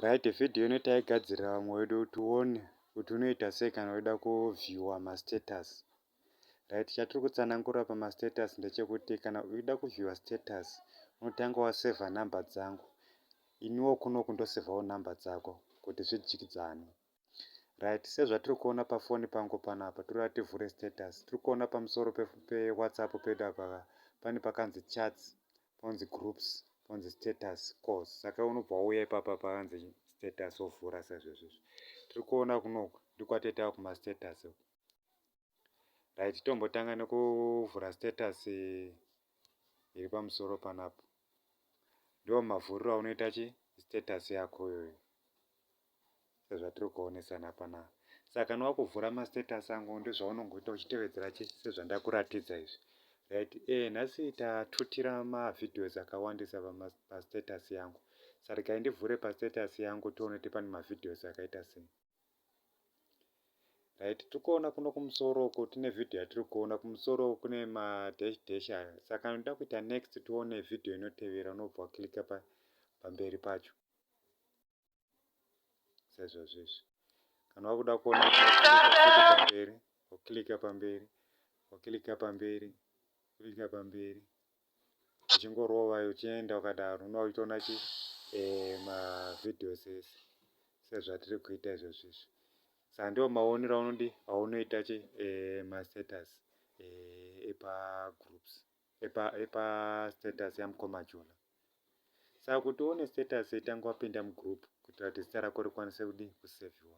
right video ino taigadzirira vamwe vedu kuti uone kuti unoita sei kana weda kuvhiewa mastatus right chatiri kutsanangura pamastatus ndechekuti kana uida kuvhiewa status unotanga wasevha number dzangu iniwo kunoku ndosevhawo number dzako kuti zvidyidzane Right sezvatiri kuona pafoni pangu panapa toda tivhure status tiri kuona pamusoro pe, pe whatsapp pedu apa ka pane pakanzi chats ponzi groups ponzi status course saka unobva wauya ipapa pakanzi status wovhura sezvezvezvi tiri kuona kunoku ndiko kwatete ava kumastatus uku right tombotanga nekuvhura status iri pamusoro panapo ndiwo mavhuriro aunoita chi status yako iyoyo sezvatiri kuonesana pana saka kana wakuvhura mastatus angu ndozvaunongoita uchitevedzera chi sezvandakuratidza izvi right eh nhasi tatutira mavideos akawandisa pastatus yangu sarikai ndivhure pastatus yangu tione kuti pane mavideos akaita sei right tirikuona kuno kumusoro uko tine video yatiri kuona kumusoro kune ma dash dash ayo saka ndoda kuita next tione video inotevera unobva wakilika pa pamberi pacho saizvozvo izvi kana wakuda kuona pamberi wakilika pamberi wakilika pamberi klika pamberi uchingorova uchienda ukadaro unova uchitoona chi eh, mavideos ese sezvatiri kuita izvozvi izvi sa ndiwo maonero aunodi aunoita chi eh, mastatus eh, epagroups epa, epa status yamukoma jula saka kuti uone status itanga wapinda mugroup kuitira kuti zita rako rikwanise kudi kuseviwa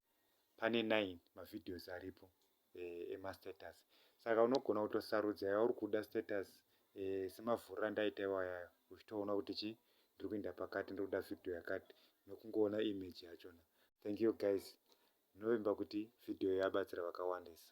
pane nine mavideos aripo eh, emastatus saka unogona kutosarudza yauri kuda status eh, semavhuriro andaita iwayayo uchitoona kuti chii ndiri kuenda pakati ndiri kuda video yakati nokungoona image yachona thank you guys ndinovimba kuti video yabatsira vakawandisa